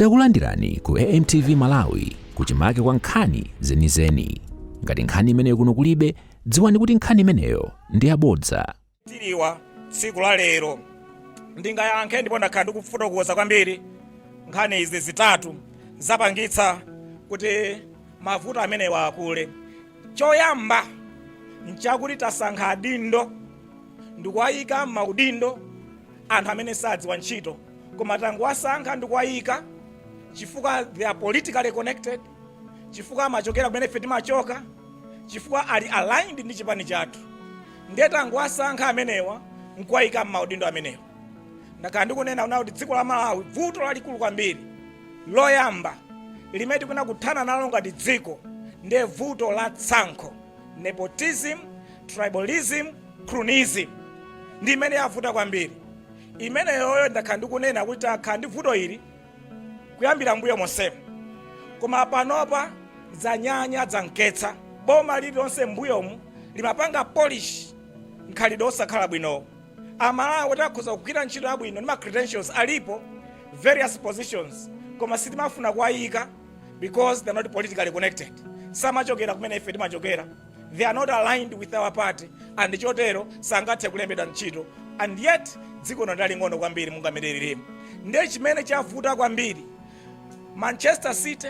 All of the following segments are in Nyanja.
Takulandirani ku AMTV Malawi kuchimake kwa nkhani zenizeni. Ngati nkhani imeneyo kuno kulibe, dziwani kuti nkhani imeneyo ndi yabodza. tili wa tsiku la lero ndingayankhe ndipo ndakhala ndikufotokoza kwambiri nkhani izi zitatu zapangitsa kuti mavuto amenewa akule choyamba nchakuti tasankha adindo ndikuwayika m'maudindo anthu amene sadziwa ntchito koma tangowasankha ndikuwayika chifukwa they are politically connected chifukwa amachokera kumene ife timachoka chifukwa ali aligned ndi chipani chathu ndiye tangowasankha amenewa nkuwayika m'maudindo amenewa ndakhala ndikunena kuti dziko la malawi vuto lalikulu kwambiri loyamba limene tikuna kuthana nalo ngati dziko ndiye vuto la tsankho nepotism tribalism cronyism ndi imene yavuta kwambiri imeneyoyo ndakhala ndikunena kuti takhala ndi vuto ili kuyambira mbuyo monsemo koma panopa zanyanya zankitsa boma lililonse mbuyomu limapanga polish mkhalidwe osakhala bwinowo amalawi oti akhoza kugwira ntchito yabwino ndi ma credentials alipo various positions koma sitimafuna kuwayika because they're not politically connected samachokera kumene ife timachokera They are not aligned with our party and chotero sangathe kulembedwa ntchito and yet dziko lino ndi laling'ono kwambiri mungamerereremo ndiye chimene chavuta kwambiri manchester city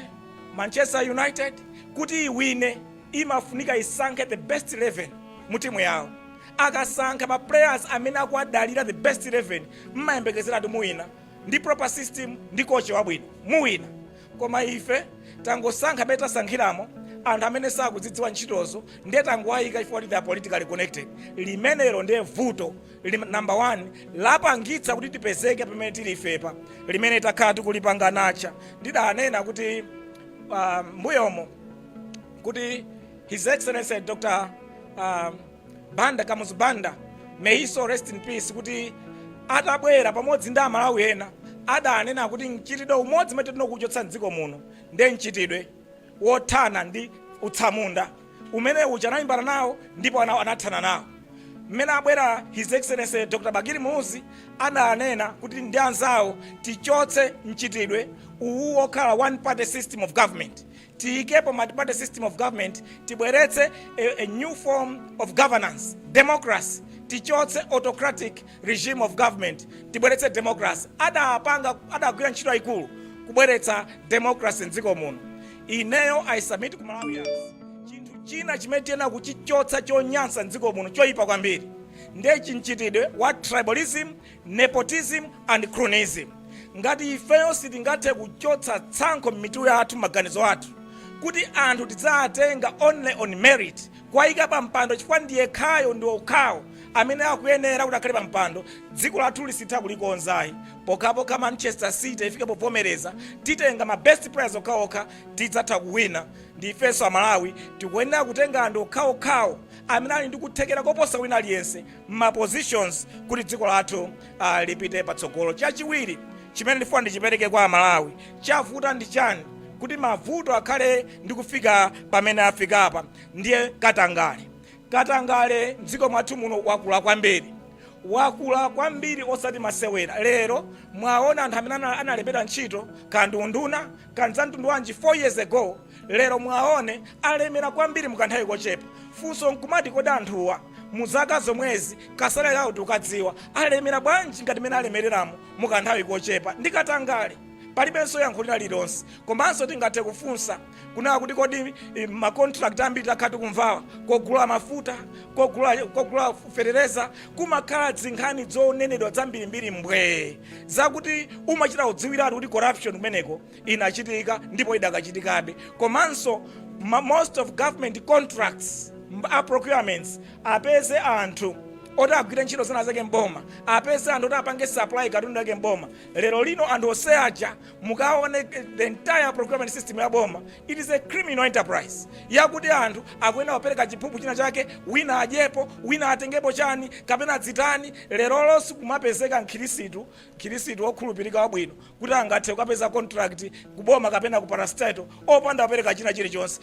manchester united kuti iwine imafunika isankhe the best 11 mu timu yawo akasankha ma players amene akuwadalira the best 11 mmayembekezera kuti muwina ndi proper system ndi coach wabwino muwina Koma ife tangosankha mmene tasankhiramo anthu amene sakuzidziwa ntchitozo ndiye tangowayika chifukwa kuti they are politically connected. Limenelo ndiye vuto lim, number one lapangitsa kuti tipezeke pamene tili ifepa limene takhala tikulipanga nacha. Ndidanena kuti uh, mbuyomo kuti His Excellency Dr. Um, Banda Kamuzu Banda may his soul rest in peace kuti atabwera pamodzi ndi amalawi ena adanena kuti mchitidwe umodzi umene tiyenera kuchotsa mdziko muno ndiye mchitidwe wothana ndi utsamunda umene uja analimbana nawo ndipo ana- anathana nawo mmene abwera his excellency dr bakili muluzi adanena kuti ndi anzawo tichotse mchitidwe uwu wokhala one party system of government tiyikepo multiparty system of government tibweretse a, a new form of governance democracy tichotse autocratic regime of government tibweretse democracy adapanga adagwira ntchito yayikulu kubweretsa democracy mdziko muno ineyo i submit ku malawians chinthu china chimene tiyenera kuchichotsa chonyansa mdziko muno choyipa kwambiri ndiye chimchitidwe wa tribalism Nepotism and cronyism. Ngati ifeyo sitingathe kuchotsa tsankho m'mitu yathu, maganizo athu, kuti anthu tidzawatenga only on merit, kuwayika pa mpando chifukwa ndi yekhayo ndi okhawo amene akuyenera kuti akhale pa mpando, dziko lathu sititha kulikonza ayi. Pokhapokha Manchester City ifike povomereza, titenga ma best players okhaokha, tidzatha kuwina. Ndi ifenso a Malawi tikuyenera kutenga anthu okhaokhawo amene ali ndi kuthekera koposa wina aliyense. ma positions kuti dziko lathu uh, lipite patsogolo. Chachiwiri chimene ndifuna ndichipereke kwa Amalawi, chavuta ndi chani kuti mavuto akhale ndi kufika pamene afikapa? Ndiye katangale, katangale mdziko mwathu muno wakula kwambiri wakula kwambiri osati masewera. Lero mwaona anthu amene ana- analembedwa ntchito kandi unduna kandi za mtundu wanji 4 years ago, lero mwaone alemera kwambiri mukanthawi kochepa. Funso nkumati kodi anthuwa Mu zaka zomwezi, ka salary kawo tikukadziwa, alemera bwanji ngati mene alemereramo mu ka nthawi kochepa, ndi katangale. Palibenso yankho lina lililonse. Komanso tingathe kufunsa kunena kuti kodi ma contract ambiri takhala tikumvawa, kogula mafuta, kogula, kogula fetereza, kumakhala dzinkhani zonenedwa zambirimbiri mbwee, zakuti umachita kudziwiratu kuti corruption kumeneko. inachitika ndipo idakachitikabe komanso ma- most of government contracts m- a procurements apeze anthu oti agwire ntchito zina zake mboma apeze anthu oti apange supply katundu yake mboma lero lino anthu onse aja mukaone the entire procurement system ya boma it is a criminal enterprise yakuti anthu akuyenera kupereka chiphuphu china chake wina adyepo wina atengepo chani kapena adzitani lero lino sikumapezeka mkhirisitu Mkhirisitu wokhulupirika wabwino kuti angathe kukapeza contract ku boma kapena ku parastatal opanda kupereka china chilichonse.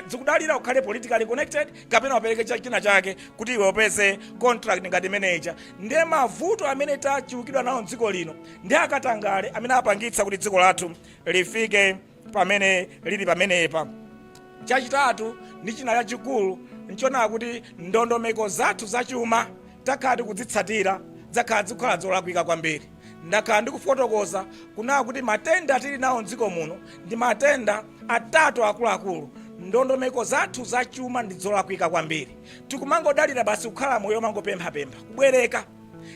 Zikudalira ukhale politically connected kapena upereke cha china chake kuti iwe upeze contract ngati imene ija. Nde mavuto amene tachulukidwa nawo mdziko lino ndi akatangale amene apangitsa kuti dziko lathu lifike pamene lili pamenepa chachitatu ndi china chachikulu nchonena kuti ndondomeko zathu zachuma takhala tikudzitsatira zakhala zikukhala zolakwika kwambiri ndakhala ndikufotokoza kunena kuti matenda tili nawo mdziko muno ndi matenda atatu akuluakulu ndondomeko zathu zachuma ndi zolakwika kwambiri tikumangodalira basi kukhala moyo omangopemphapempha kubwereka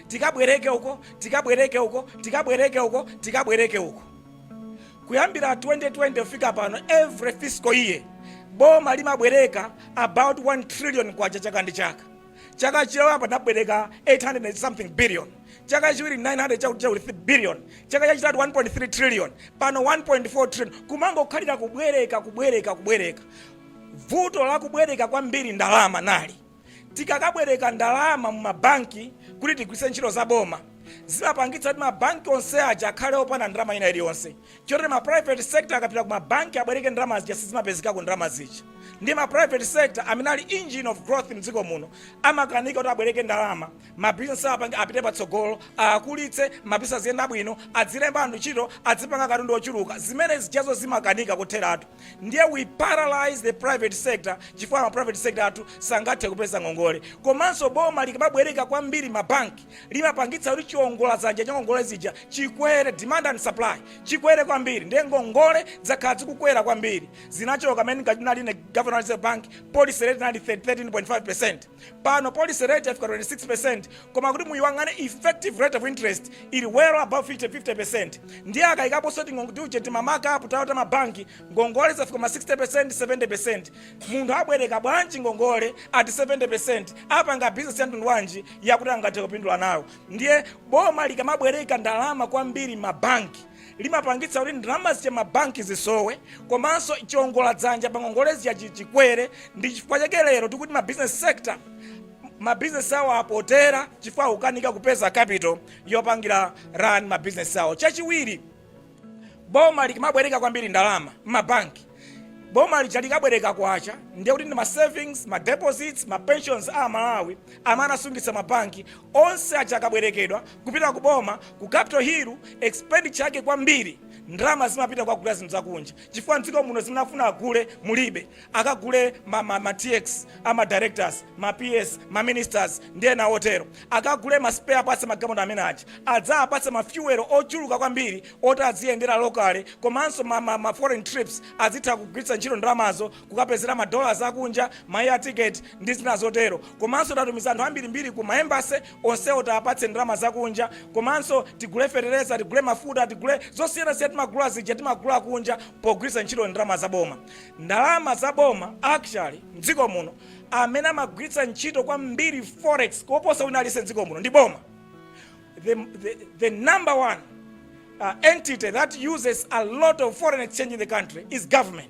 tikabwereke uko tikabwereke uko tikabwereke uko tikabwereke uko Kuyambira 2020 kufika pano every fiscal year boma limabwereka about 1 trillion kwacha chaka ndi chaka. Chaka choyamba anabwereka 800 and something billion, chaka chachiwiri 900 chakuti chakuti 3 billion, chaka chachitatu 1.3 trillion, pano 1.4 trillion. Kumangokhalira kubwereka kubwereka kubwereka. Vuto la kubwereka kwambiri ndalama nali. Tikakabwereka ndalama mumabanki kuti tigwiritse ntchito za boma, zimapangitsa kuti mabanki onse aja akhale opanda ndalama ina iliyonse. Chotero ma private sector akapita ku mabanki abwereke ndalama zija sizimapezekako ndalama zija. Ndiye ma private sector amene ali engine of growth mdziko muno amakanika kuti abwereke ndalama, ma business awo apange apite patsogolo, awakulitse, ma business aziyenda bwino, adzilemba anthu ntchito, adzipanga katundu ochuluka. Zimene zijazo zimakanika kotheratu. ndiye we paralyze the private sector chifukwa ma private sector athu sangathe kupeza ngongole komanso boma likamabwereka kwambiri mabanki limapangitsa kuti chiongola dzanja cha ngongole zija chikwere demand and supply chikwere kwambiri ndiye ngongole zakhala zikukwera kwambiri zinachoka mmene ndinali ine governor reserve bank policy rate inali 13.5 percent Pano policy rate yafika 26% koma kuti muyiwang'ane effective rate of interest ili well above 50, 50%. Ndiye akayikaponso tiuje timamakapu tawo ta mabanki ngongole zafika ma 60%, 70%. Munthu abwereka bwanji ngongole at 70%? Apanga business ya mtundu wanji yakuti angathe kupindula nayo? Ndiye boma likamabwereka ndalama kwambiri m'mabanki limapangitsa kuti ndalama zija m'mabanki zisowe komanso chiongola dzanja pa ngongole zija chi- chikwere ndi chifukwa chake lero tikuti ma business sector ma business awo apotera chifukwa akukanika kupeza capital yopangira run ma business awo chachiwiri boma likamabwereka kwambiri ndalama m'mabanki boma lija likabwereka kwacha ndiye kuti ndi ma savings ma deposits ma pensions a amalawi amene anasungitsa ma banki onse aja akabwerekedwa kupita ku boma ku capital hill expenditure yake kwambiri ndalama zimapita kukagula zinthu zakunja chifukwa mdziko muno zimene afuna agule mulibe akagule ma, ma, ma tx ama directors ma ps ma ministers ndi ena otero akagule ma spare parts magalimoto amene aja adzawapatse ma fuel ochuluka kwambiri oti adziyendera locally komanso ma ma ma foreign trips adzitha kugwiritsa ntchito ndalamazo kukapezera ma dollars akunja ma air ticket ndi zina zotero komanso tatumiza anthu ambirimbiri ku ma embassy onsewo tiwapatse ndalama zakunja komanso tigule fetereza tigule mafuta tigule zosiyanasiyana timagula zija timagula kunja pogwiritsa ntchito ndalama za boma ndalama za boma actually mdziko muno amene amagwiritsa ntchito kwambiri forex koposa wina aliyense mdziko muno ndi boma the, the, the number one uh, entity that uses a lot of foreign exchange in the country is government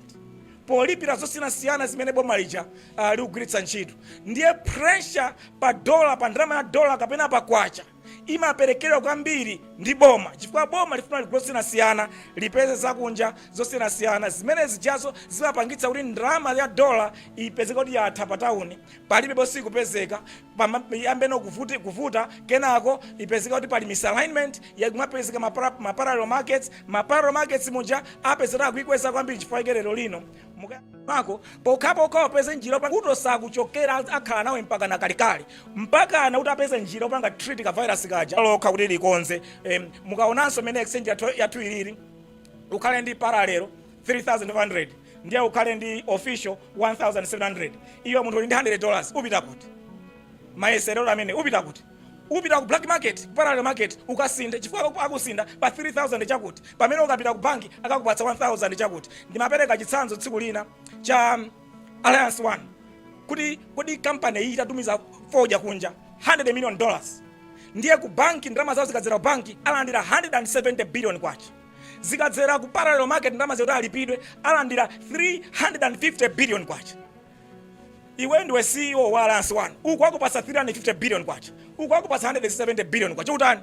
polipira zosiyanasiyana zimene boma lija uh, likugwiritsa ntchito ndiye pressure pa dola pa ndalama ya dola kapena pa kwacha imaperekedwa kwambiri ndi boma chifukwa boma lifuna ligule zosiyanasiyana lipeze zakunja zosiyanasiyana zimene zijazo zimapangitsa kuti ndalama ya dola ipezeke kuti yatha pa tawuni palibe bosi ikupezeka pama- iyambe kuvuti- kuvuta kenako ipezeka kuti pali misalignment yakumapezeka mapara- maparallel markets maparallel markets muja apezeka akuikweza kwambiri chifukwa chake lero lino Muka- mako pokhapokha upeze njira yopa- kuto sakuchokera akhala nawe mpaka na kalekale mpakana kuti apeze njira yopanga treat ka virus kaja lokha kuti likonze Em, mukaonanso mene exchange yathu- yathu ilili ukhale ndi paralelo 3500 ndiye ukhale ndi official 1700 iwe munthu uli ndi 100 dollars upita kuti mayeserero amene upita kuti upita ku black market parallel market ukasinthe chifukwa aku- akusintha pa 3000 chakuti pamene ukapita ku banki akakupatsa 1000 chakuti ndimapereka chitsanzo tsiku lina cha um, alliance one kuti kodi kampani iyi itatumiza fodya kunja 100 million dollars ndiye ku banki ndalama zawo zikadzera ku banki alandira 170 billion kwacha zikadzera ku parallel market ndalama zakuti alipidwe alandira 350 billion kwacha iwe ndiwe ceo wa alliance one uku akupasa 350 billion kwacha uku akupasa 170 billion kwacha utani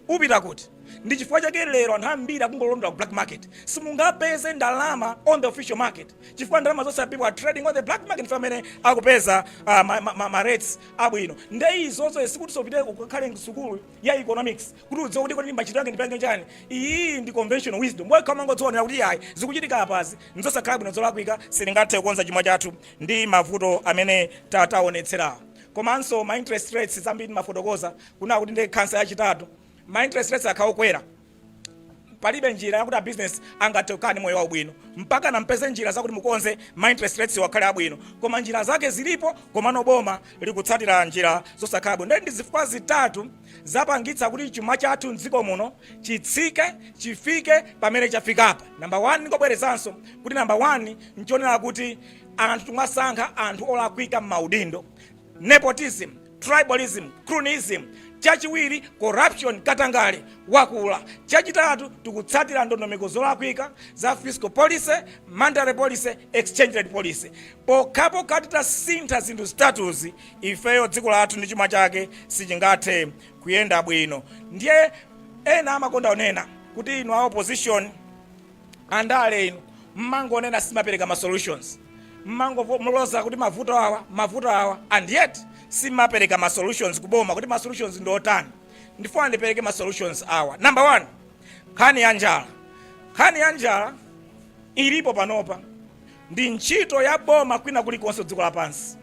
upita kuti ndi chifukwa chake lero anthu ambiri akungolondola ku black market simungapeze ndalama on the official market chifukwa ndalama zonse people are trading on the black market nkumene akupeza uh, ma, ma, ma, ma rates abwino nde izozo sikuti upite ukakhale sukulu ya economics kuti udziwe kuti kodi machitidwe ake ndipange chani iyi ndi conventional wisdom wekha umangoziwonera kuti ayi zikuchitika apazi nzosakhala bwino zolakwika sitingathe kukonza chuma chathu ndi mavuto amene ta- taonetserawo komanso ma interest rates zambiri ndimafotokoza kunena kuti ndi khansa yachitatu ma interest rates akhala okwera palibe njira yakuti abusiness angathe kukhala ndi moyo wabwino mpakana mpeze njira zakuti mukonze ma interest rates akhale abwino koma njira zake zilipo komano boma likutsatira njira zosakhala bwino ndi zifukwa zitatu zapangitsa kuti chuma chathu mdziko muno chitsike chifike pamene chafikapa namba 1 ndingobwerezanso kuti namba 1 nchonera kuti anthu timasankha anthu olakwika m'maudindo nepotism tribalism cronyism chachiwiri corruption katangale wakula chachitatu tikutsatira ndondomeko zolakwika za fiscal policy monetary policy exchange rate policy pokhapokha titasintha zinthu zitatuzi ifeyo dziko lathu ndi chuma chake sichingathe kuyenda bwino ndiye ena amakonda kunena kuti inu a opposition andale inu mmangonena simapereka ma solutions mmangoloza kuti mavuto awa mavuto awa and yet simapereka ma solutions kuboma kuti ma solutions ndi otani ndifuna ndipereke ma solutions awa number one nkhani ya njala nkhani ya njala ilipo panopa ndi ntchito ya boma kwina kulikonse dziko lapansi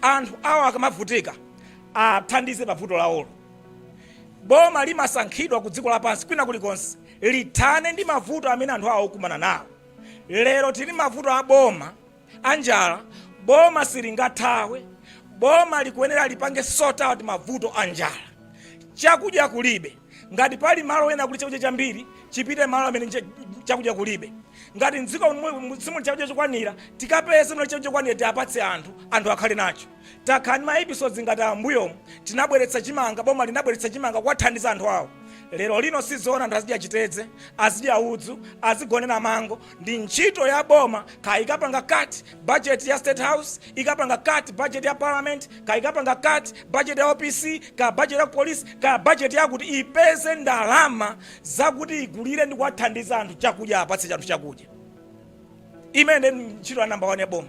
anthu awo akamavutika athandize pa vuto lawolo boma limasankhidwa ku dziko lapansi kwina kulikonse lithane ndi mavuto amene anthu awo okumana nawo lero tili m'mavuto a boma anjala boma silingathawe boma likuyenera lipange sort out mavuto anjala chakudya kulibe Ngati pali malo ena kuli chakudya chambiri, chipite malo amene chakudya kulibe. Ngati mdziko simuli chakudya chokwanira, tikapeze muli chakudya chokwanira tiapatse anthu, anthu akhale nacho. Takhala ndi ma episodes ngati ambuyomu, tinabweretsa chimanga, boma linabweretsa chimanga kuwathandiza anthu awo. Lero lino sizoona anthu azidya chitedze, azidya udzu, azigonera mango, ndi ntchito ya boma kayikapanga cut Budget ya state house ikapanga cut budget ya parliament ka ikapanga cut budget ya opc ka budget ya police ka budget yakuti ipeze ndalama zakuti igulire ndi kuwathandiza anthu chakudya apatse anthu chakudya imene ntchito ya number one ya boma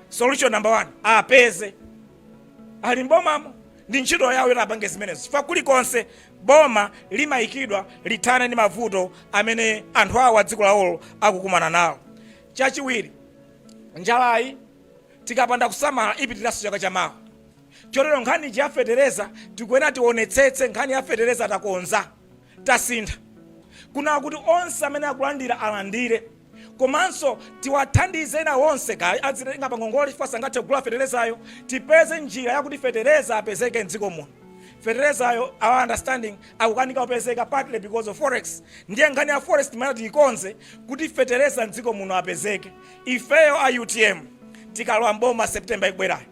solution number one apeze ali mbomamo ndi ntchito yawo yoti apange zimenezo chifukwa kulikonse boma limayikidwa lithane ndi mavuto amene anthu awo a dziko lawolo akukumana nawo Chachiwiri, njalayi tikapanda kusamala ipitiranso chaka cha mawa. Chotero nkhani ija ya fetereza tikuyenera tionetsetse nkhani ya fetereza takonza, tasintha kunaa kuti onse amene akulandira alandire komanso tiwathandize ena onse kaya azitenga pa ngongole chifukwa sangathe kugula feterezayo. Tipeze njira yakuti fetereza apezeke m'dziko muno. Feterezayo, our understanding, akukanika kupezeka partly because of forex ndiye nkhani ya forex ndi imene tiyikonze kuti fetereza mdziko muno apezeke ifeyo a utm tikalowa mboma september ikubwerayo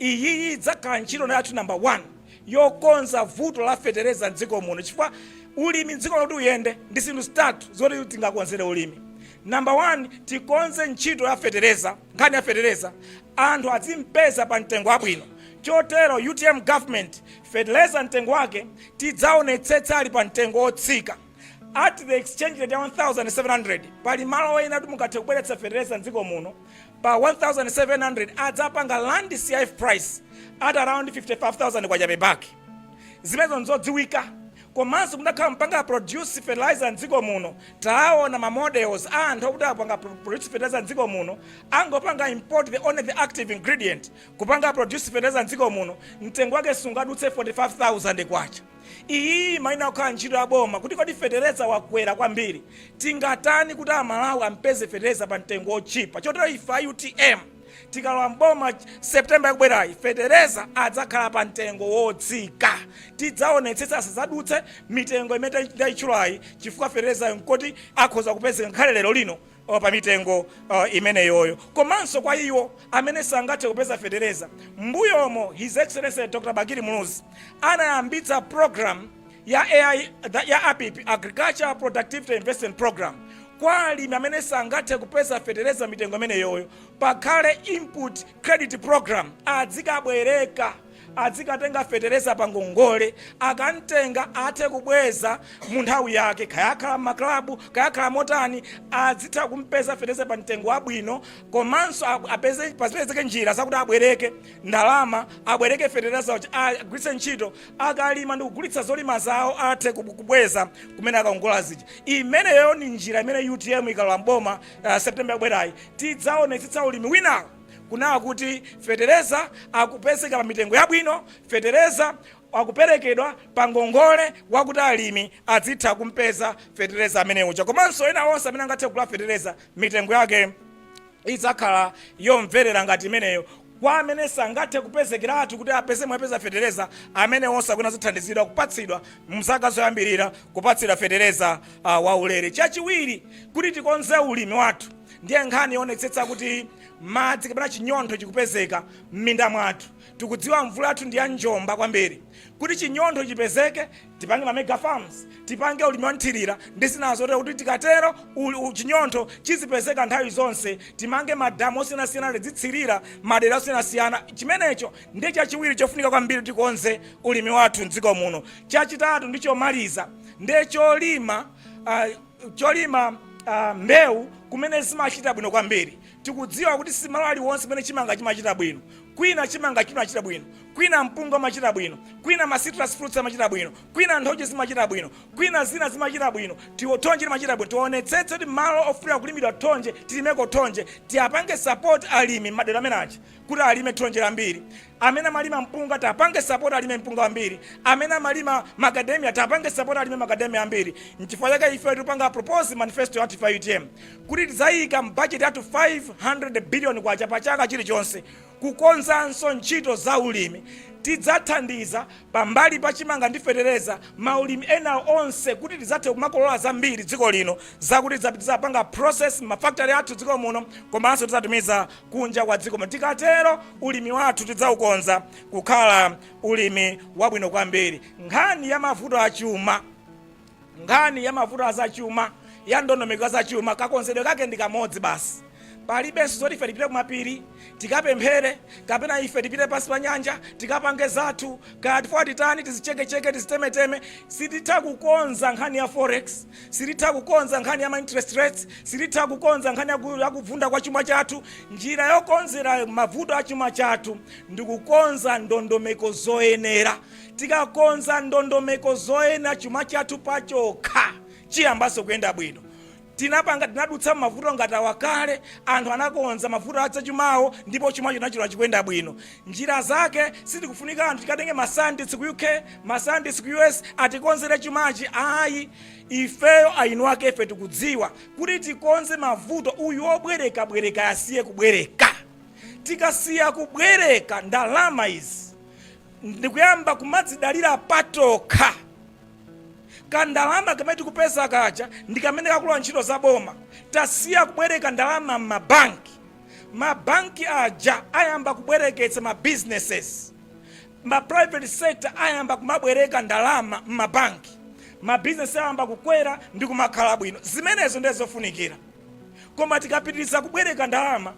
iyiyi idzakhala ntchito yathu number 1 yokonza vuto la fetereza mdziko muno chifukwa ulimi mdziko muno kuti uyende ndi zinthu zitatu zoti tingakonzere ulimi namba 1 tikonze ntchito ya fetereza nkhani ya fetereza anthu azimpeza pa mtengo wabwino chotero utm government Feteleza mtengo wake tidzaonetsetsa ali pa mtengo wotsika at the exchange rate ya 1700 pali malo ena kuti mungathe kubweretsa feteleza mdziko muno pa 1700 adzapanga land cif price at around 55000 kwacha per bag zimenezo nzodziwika komanso mutakhala mupanga produce fertilizer mdziko muno taona ma models a anthu akuti apanga produce fertilizer mdziko muno angopanga import the only the active ingredient Kupanga produce fetereza m'dziko muno mtengo wake sungadutse K45,000. Iyi imayenera kukhala ntchito ya boma kuti kodi fetereza wakwera kwambiri, tingatani kuti Amalawi ampeze fetereza pa mtengo wotchipa. Chotero ife a utm tikalowa m'boma September ikubwerayi, fetereza adzakhala pa mtengo wotsika. Tidzaonetsetsa asadzadutse mitengo imene ndaitchulayi chifukwa feterezayu n'koti akhoza kupezeka ngakhale lero lino. o, pa mitengo imeneyoyo, komanso kwa iwo amene sangathe kupeza fetereza. M'mbuyomo His Excellency Dr. Bakili Muluzi anayambitsa program ya AI the- ya APIP Agriculture Productivity Investment Program kwa alimi amene sangathe kupeza fetereza mitengo imeneyoyo, pakhale input credit program adzikabwereka adzikatenga fetereza pa ngongole, akamtenga athe kubweza mu nthawi yake, kaya akhala mma club, kaya akhala motani, adzitha kumpeza fetereza pa mtengo wabwino, komanso pazipezeke njira zakuti abwereke ndalama, abwereke fetereza, agwiritse ntchito, akalima ndi kugulitsa zolima zawo athe kubweza kumene akaongola zija. Imeneyo ndi njira imene utm ikalowa m'boma September ikubwerayi, tidzaonetsetsa ulimi winawo. kunawa kuti fetereza akupezeka pa mitengo yabwino, fetereza akuperekedwa pa ngongole wakuti alimi adzitha kumpeza fetereza amene uja komanso ena onse amene angathe kugula fetereza mitengo yake idzakhala yomverera ngati imeneyo kwa amene sangathe kupezekeratu kuti apeze mwapeza fetereza amene onse akufuna azathandizidwa kupatsidwa mzaka zoyambirira kupatsidwa fetereza uh, waulere chachiwiri kuti tikonze ulimi wathu ndiye nkhani yoonetsetsa kuti madzi kapena chinyontho chikupezeka m'minda mwathu tikudziwa mvula yathu ndi ya njomba kwambiri kuti chinyontho chipezeke tipange ma mega farms tipange ulimi wanthirira ndi zina zotero kuti tikatero uli- u- chinyontho chizipezeka nthawi zonse timange madamu osiyanasiyana tidzitsirira madera osiyanasiyana chimenecho ndiye chachiwiri chofunika kwambiri kuti tikonze ulimi wathu mdziko muno chachitatu ndi chomaliza ndiye cholima ah, cholima mbewu kumene zimachita bwino kwambiri tikudziwa kuti simalo aliwonse kumene chimanga chimachita bwino kwina chimanga chimachita bwino kwina mpunga umachita bwino kwina ma citrus fruits amachita bwino kwina nthochi zimachita bwino kwina zina zimachita bwino tiwo thonje limachita bwino tionetsetse kuti malo ofunika kulimidwa thonje tilimeko thonje tiapange support alimi madera amene aja kuti alime thonje lambiri amene amalima mpunga tapange sapoti alime mpunga wambiri amene amalima macadamia tapange sapoti alime macadamia ambiri nchifukwa chake ife tipanga propose manifesto ya utm kuti tidzayika mbajeti yathu 500 billion kwacha pa chaka chilichonse kukonzanso ntchito za ulimi tidzathandiza pambali pa chimanga ndi fetereza maulimi ena onse kuti tidzathe kumakolola zambiri dziko lino zakuti tidzapanga process mafactory athu dziko muno komanso tidzatumiza kunja kwa dziko muno. Tikatero ulimi wathu tidzaukonza kukhala ulimi wabwino kwambiri. Nkhani ya mavuto a chuma, nkhani ya mavuto a zachuma, ya ndondomeko zachuma, kakonzedwe kake ndi kamodzi basi. Palibenso zoti ife tipite kumapiri tikapemphere kapena ife tipite pansi pa nyanja tikapange zathu, kaya tifwa titani, tizichekecheke, tizitemeteme. Sititha kukonza nkhani ya forex. Silitha kukonza nkhani ya ma interest rates, silitha kukonza nkhani ya kuvunda kwa chuma chathu. Njira yokonzera mavuto a chuma chathu ndi kukonza ndondomeko zoyenera. Tikakonza ndondomeko zoyenera chuma chathu pachokha chiyambanso kuyenda bwino. Tinapanga, tinadutsa m'mavuto ngati awa kale. Anthu anakonza mavuto a za chuma awo ndipo chumacho tinachiona chikuyenda bwino. njira zake sitikufunika anthu tikatenge ma scientists ku uk ma scientists ku us atikonzere chumachi ayi ifeyo eni ake ife tikudziwa kuti tikonze mavuto uyu obwereka bwereka asiye kubwereka tikasiya kubwereka ndalama izi ndikuyamba kumadzidalira patokha kandalama kamene tikupeza kaja ndi kamene kakalowe ntchito za boma tasiya kubwereka ndalama m'mabanki ma bank aja ayamba kubwereketsa ma businesses, ma private sector ayamba kumabwereka ndalama m'mabanki, ma business ayamba kukwera ndi kumakhala bwino. Zimenezo ndiye zofunikira. Koma tikapitiriza kubwereka ndalama,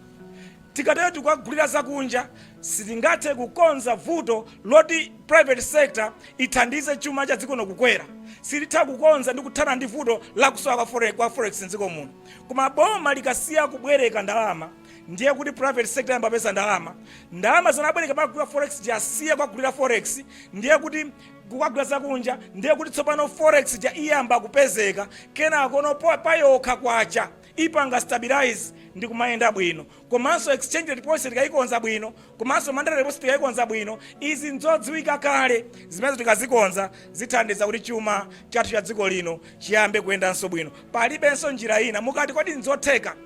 titatero tikukagulira zakunja, sitingathe kukonza vuto loti private sector ithandize chuma cha dziko lino kukwera. Sititha kukonza ndi kuthana ndi vuto la kusowa kwa forex m'dziko muno. koma boma likasiya kubwereka ndalama ndiye kuti private sector iyamba kupeza ndalama ndalama zimene abwereka amagulira forex ija asiya kugulira forex ndiye kuti kukagula zakunja ndiye kuti tsopano forex ija iyamba kupezeka kenakono po- payokha kwacha ipanga stabilize ndi kumayenda bwino komanso exchange rate policy tikayikonza bwino komanso monetary rate policy tikayikonza bwino izi nzodziwika kale zimenezo tikazikonza zithandiza kuti chuma chathu cha dziko lino chiyambe kuyendanso bwino palibenso njira ina mukati kodi nzotheka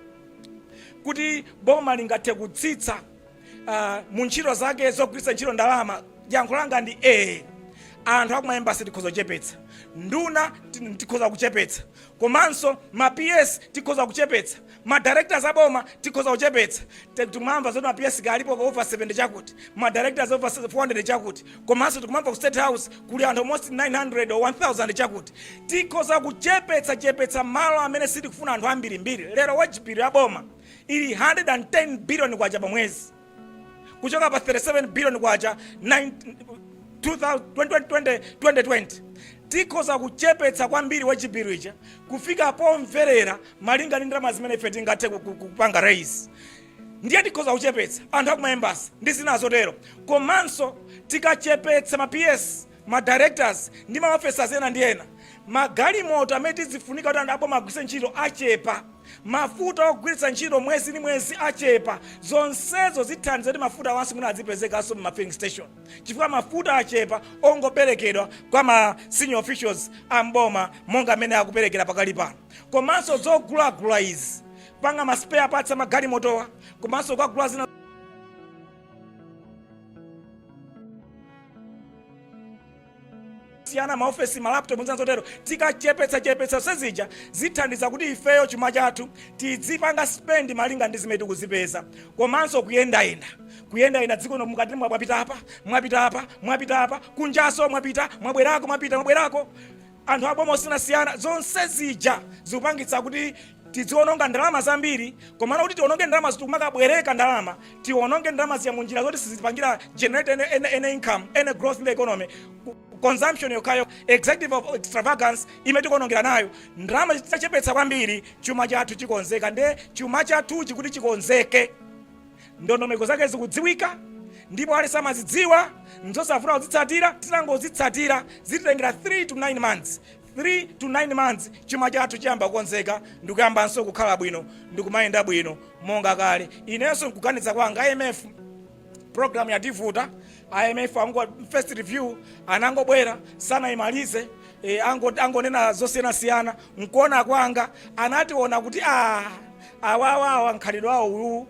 kuti boma lingathe kutsitsa uh, mu ntchito zake zogwiritsa ntchito ndalama yankho langa ndi ee anthu aku ma embassy tikhoza kuchepetsa nduna ti- tikhoza kuchepetsa komanso ma ps tikhoza kuchepetsa Ma directors aboma tikhoza kuchepetsa, tikumamva zoti ma PS kaya alipo over 70 chakuti, ma directors over 400 chakuti, komanso tikumamva ku state house kuli anthu almost 900 or 1000 chakuti. Tikhoza kuchepetsa chepetsa malo amene sitikufuna anthu ambirimbiri. Lero wage bill ya boma ili 110 billion kwacha pa mwezi. kuchoka pa 37 billion kwacha 9 2000 2020 2020 tikhoza kuchepetsa kwambiri wage bill ija kufika pomverera malinga ndi ndalama zimene ife tingathe ku- ku- kupanga raise ndiye tikhoza kuchepetsa anthu aku ma embassy ndi zina zotero komanso tikachepetsa ma ps ma directors ndi ma officers ena ndi ena, ma galimoto amene tizifunika kuti anthu a boma agwiritse ntchito achepa, mafuta ogwiritsa ntchito mwezi ndi mwezi achepa, zonsezo zithandiza kuti mafuta awanso mwina adzipezekanso mma filling station chifukwa mafuta achepa ongoperekedwa kwa ma senior officials a m'boma monga amene akuperekera pakali pano. Komanso zogulagula izi, kupanga ma spare parts a magalimotowa komanso kugula zina. siyana maofesi malaptop zinanzotero tikachepetsa chepetsa zonse zija zithandiza kuti ifeyo chuma chathu tidzipanga spend malinga ndi zimene tikuzipeza komanso kuyendayenda kuyendayenda dziko lino mkati mwapita apa mwapita apa mwapita apa kunjaso mwapita mwabwerako mwapita mwabwerako anthu aboma osiyanasiyana zonse zija zikupangitsa kuti tidziononga ndalama zambiri komano kuti tiononge ndalama zoti tikumakabwereka ndalama tiononge ndalama zija munjira zoti sizipangira generate any, any, any income any growth in the economy consumption yokhayo executive of extravagance imene tikuonongera nayo ndalama zitachepetsa kwambiri chuma chathu chikonzeka nde chuma chathuchi kuti chikonzeke Ndondomeko zake zikudziwika ndipo aliyense amazidziwa, n'zosavuta kuzitsatira. Titangozitsatira zititengera 3 to 9 months, 3 to 9 months chuma chathu chiyamba kukonzeka ndi kuyambanso kukhala bwino ndi kumayenda bwino monga kale. Inenso n'kuganiza kwanga, IMF program yativuta, IMF ango, first review anangobwera sanayimalize, e, ango, angonena zosiyanasiyana. N'kuona kwanga anationa kuti ah, awawa awa mkhalidwe wawo uwu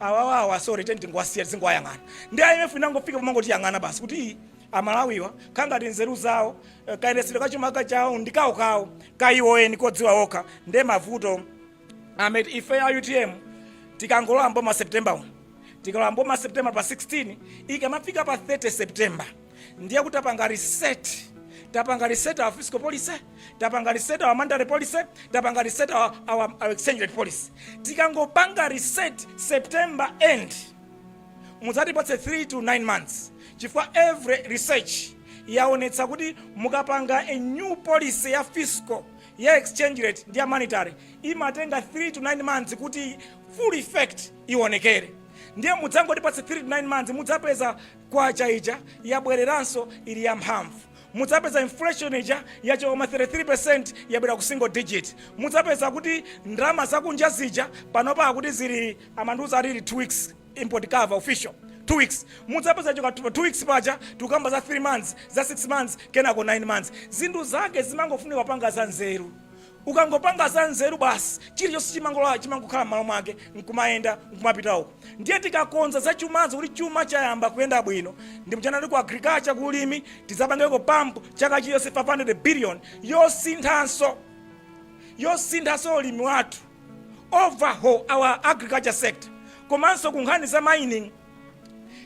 awawawa sorry tingowasiya tizingowayang'ana ndi imf inangofika pomangotiyang'ana basi kuti "Ii, amalawiwa kaya ngati nzeru zawo eh, kayendetsedwe kachuma chawo ndi kawo kawo kayiwoyeni kodziwa okha ndiye mavuto ameti ife ya utm tikangolowa mboma september 1 tikalowa mboma september pa 16 ikamafika pa 30 september ndiye kuti tapanga reset tapanga reset our fiscal policy tapanga reset our monetary policy tapanga reset our, our, our exchange rate policy tikangopanga reset september end mudzatipatse 3 to 9 months chifukwa every research yaonetsa kuti mukapanga a new policy ya fiscal ya exchange rate ndi ya monetary imatenga 3 to 9 months kuti full effect ionekere ndiye mudzangotipatse 3 to 9 months mudzapeza Kwacha ija yabwereranso ili ya mphamvu. Mudzapeza inflation ija yachoka ma 33% yabwera ku single digit. Mudzapeza kuti ndalama zakunja zija panopa akuti zili amandiuza ali 2 weeks import cover official 2 weeks. Mudzapeza choka 2 weeks paja tikukamba za 3 months, za 6 months kenako 9 months. Zinthu zake zimangofunika kupanga za nzeru. Ukangopanga za nzeru basi chilichonse chimangokhala mmalo mwake nkumayenda nkumapita uko. Ndiye tikakonza za chumazo kuti chuma chayamba kuyenda bwino ndiye mchaka ku agriculture ku ulimi tidzapangeko pump chaka chilichonse 500 billion yosinthanso yosinthanso ulimi wathu overhaul our agriculture sector komanso ku nkhani za mining.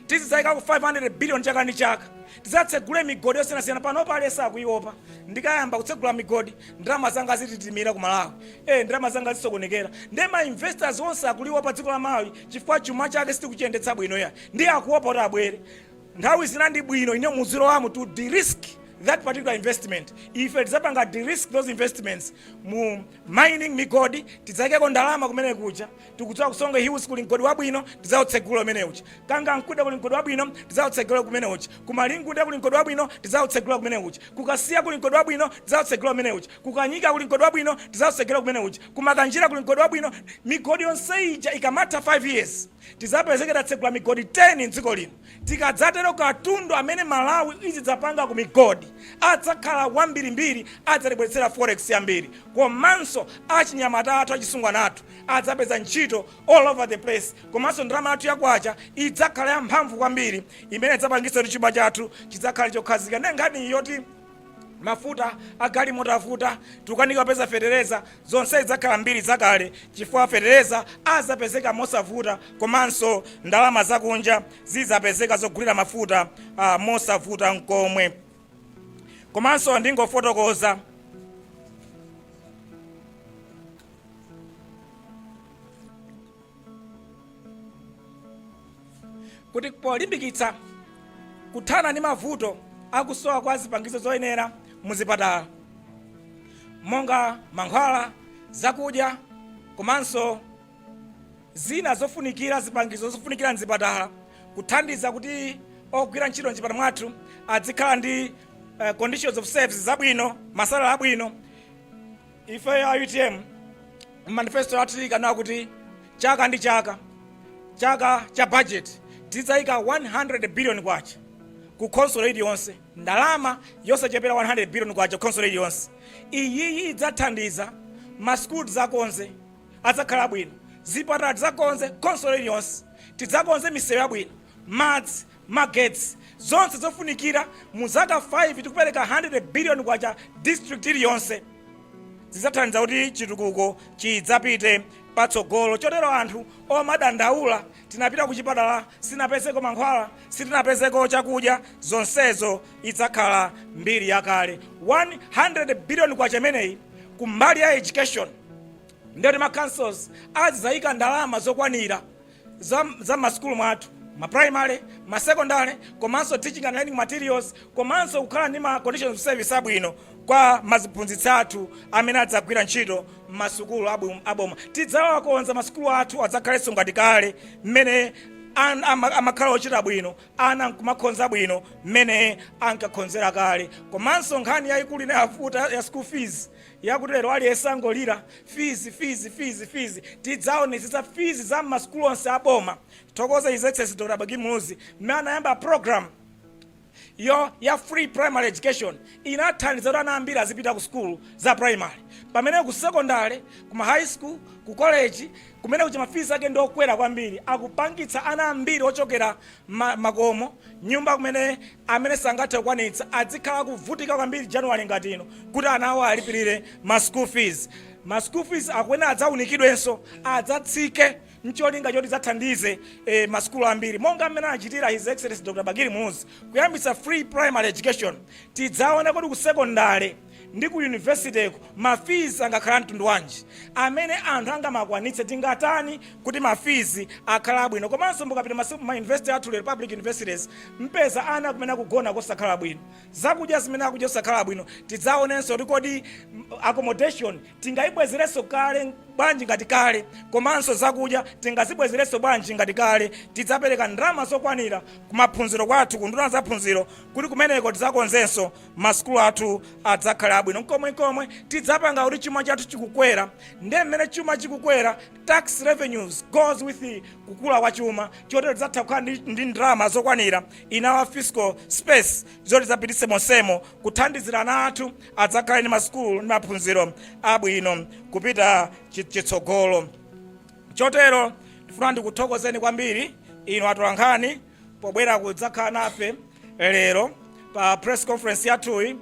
tizidzaikako 500 billion chaka ndi chaka tizatsegule migodi yosiyanasiyana panopa aliyense akuopa ndikayamba kutsegula migodi ndalama zanga zitimira ku malawi e ndalama zanga zisokonekera ndi ma investors onse akuliopa dziko la malawi chifukwa chuma chake sitikuchiyendetsa bwino ya nde akuopa kuti abwere nthawi zina ndi bwino inu muzilowamo to de-risk that particular investment ife tidzapanga de-risk those investments mu mining migodi tidzaikeko ndalama kumene kuja Tikudziwa ku Songwe Hills kuli mgodi wabwino tidzautsegula umene uja. Kangankunde kuli mgodi wabwino tidzautsegula kumene uja. Ku Malingunde kuli mgodi wabwino tidzautsegula kumene uja. Ku Kasiya kuli mgodi wabwino tidzautsegula umene uja. Ku Kanyika kuli mgodi wabwino tidzautsegula kumene uja. Ku Makanjira kuli mgodi wabwino. Migodi yonse ija ikamatha 5 years tidzapezeke tatsegula migodi 10 m'dziko lino. Tikadzatero katundu amene Malawi izidzapanga ku migodi adzakhala wambirimbiri adzatibweretsera forex yambiri komanso achinyamata athu achisungwana athu adzapeza ntchito all over the place komanso ndalama yathu ya kwacha idzakhala ya mphamvu kwambiri imene idzapangitsa kuti chuma chathu chidzakhale chokhazika ndi nkhani yoti mafuta agalimoto avuta tikukanika kupeza fetereza zonse zidzakhala mbiri zakale chifukwa fetereza azapezeka mosavuta komanso ndalama zakunja zizapezeka zogulira mafuta ah, mosavuta mkomwe komanso ndingofotokoza kuti polimbikitsa kuthana ndi mavuto akusowa kwa zipangizo zoyenera muzipatala monga mankhwala zakudya komanso zina zofunikira zipangizo zofunikira mzipatala kuthandiza kuti ogwira ntchito mchipatala mwathu adzikhala ndi uh, conditions of service zabwino masalary abwino ife a utm manifesto yathu ili kunena kuti chaka ndi chaka chaka cha budget tidzayika 100 billion kwacha ku khonsolo iliyonse ndalama yosachepera 100 billion kwacha ku khonsolo iliyonse iyiyi idzathandiza masukulu tidzakonze adzakhale abwino zipatala tidzakonze khonsolo iliyonse tidzakonze misewu yabwino madzi magetsi, zonse zofunikira mu zaka 5 tikupereka 100 billion kwacha district iliyonse zidzathandiza kuti chitukuko chidzapite patsogolo chotero anthu omadandaula tinapita kuchipatala sitinapezeko mankhwala sitinapezeko chakudya zonsezo idzakhala mbiri yakale 100 billion kwacha imeneyi kumbali ya education ndiyoti ma councils azidzayika ndalama zokwanira za, za mmasukulu mwathu ma primary ma secondary komanso teaching and learning materials komanso kukhala ndi ma conditions of service abwino kwa maziphunzitsi athu amene adzagwira ntchito m'masukulu abu- aboma tidzawakonza masukulu athu adzakhalenso ngati kale mmene an- ama- amakhala ochita bwino ana nkumakhonza bwino mmene ankakhonzera kale komanso nkhani yayikulu inayavuta ya school fees Yakuti lero aliyense angolira fees fees fees fees tidzaonetsetsa fees za mmasukulu onse a boma tithokoze his excellency Dr Bakili Muluzi mmene anayamba program yo ya free primary education inathandiza kuti ana ambiri azipita ku sukulu za primary pamene ku secondary kuma high school ku college kumene kuja ma fees ake ndi okwera kwambiri akupangitsa ana ambiri ochokera mmakomo nyumba kumene amene sangathe kukwanitsa adzikhala akuvutika kwambiri January ngati ino kuti ana awo alipilire ma school fees. Ma school fees akuyenera adzaunikidwenso, adzatsike ncholinga choti zidzathandize masukulu ambiri monga mmene anachitira His Excellency Dr Bakili Muluzi kuyambitsa free primary education. Tidzaone kodi ku sekondale Ndi ku university'ko ma fees angakhale amtundu wanji amene anthu angamakwanitse? Tingatani kuti ma fees akhale abwino? Komanso mukapita ma ma university athu lero, public universities, mpeza ana kumene akugona kosakhala bwino, zakudya zimene akudya zosakhala bwino. Tidzaonenso kuti kodi accommodation tingayibwezerenso kale bwanji ngati kale, komanso zakudya tingazibwezerenso bwanji ngati kale. Tidzapereka ndalama zokwanira ku maphunziro kwathu, ku nduna zamaphunziro kuti kumeneko tidzakonzenso. masukulu athu adzakhale abwino nkomwe nkomwe tidzapanga kuti chuma chathu chikukwera ndiye mmene chuma chikukwera tax revenues goes with the kukula kwa chuma chotero tidzatha kukhala ndi, ndi ndalama zokwanira in our fiscal space zoti idzapititse monsemo kuthandizira ana athu adzakhale ndi masukulu ndi maphunziro abwino kupita chi- chitsogolo chotero ndifuna ndikuthokozeni kwambiri inu atolankhani pobwera kudzakhala nafe lero pa press conference yathuyi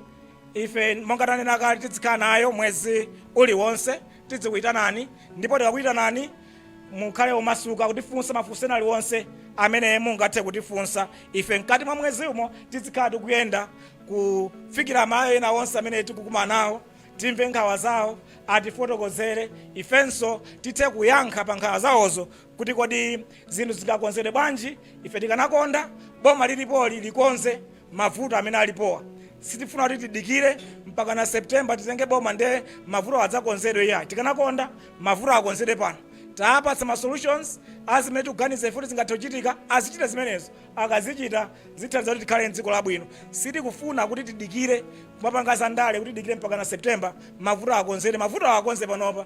ife monga tanena kale tidzikhala nayo mwezi uliwonse tidzikuyitanani ndipo tikakuyitanani mukhale omasuka kutifunsa mafunso ena aliwonse amene mungathe kutifunsa ife mkati mwa mwezi umo tidzikhala tikuyenda kufikira amayo ena onse amene tikukumana nawo timve nkhawa zawo atifotokozere ifenso tithe kuyankha pa nkhawa zawozo kuti kodi zinthu zingakonzedwe bwanji. Ife tikanakonda boma lilipoli likonze mavuto amene alipowa. Sitifuna kuti tidikire mpakana September titenge boma ndiye mavutowa adzakonzedwe iyayi. Tikanakonda mavuto akonzedwe pano. Tawapatsa ma solutions a zimene tikuganiza ife kuti zingathe kuchitika, azichite zimenezo. Akazichita zithandiza kuti tikhale m'dziko labwino. Sitikufuna kuti tidikire kumapanga zandale kuti tidikire mpakana September mavuto akonzedwe. Mavutowa akonze panopa.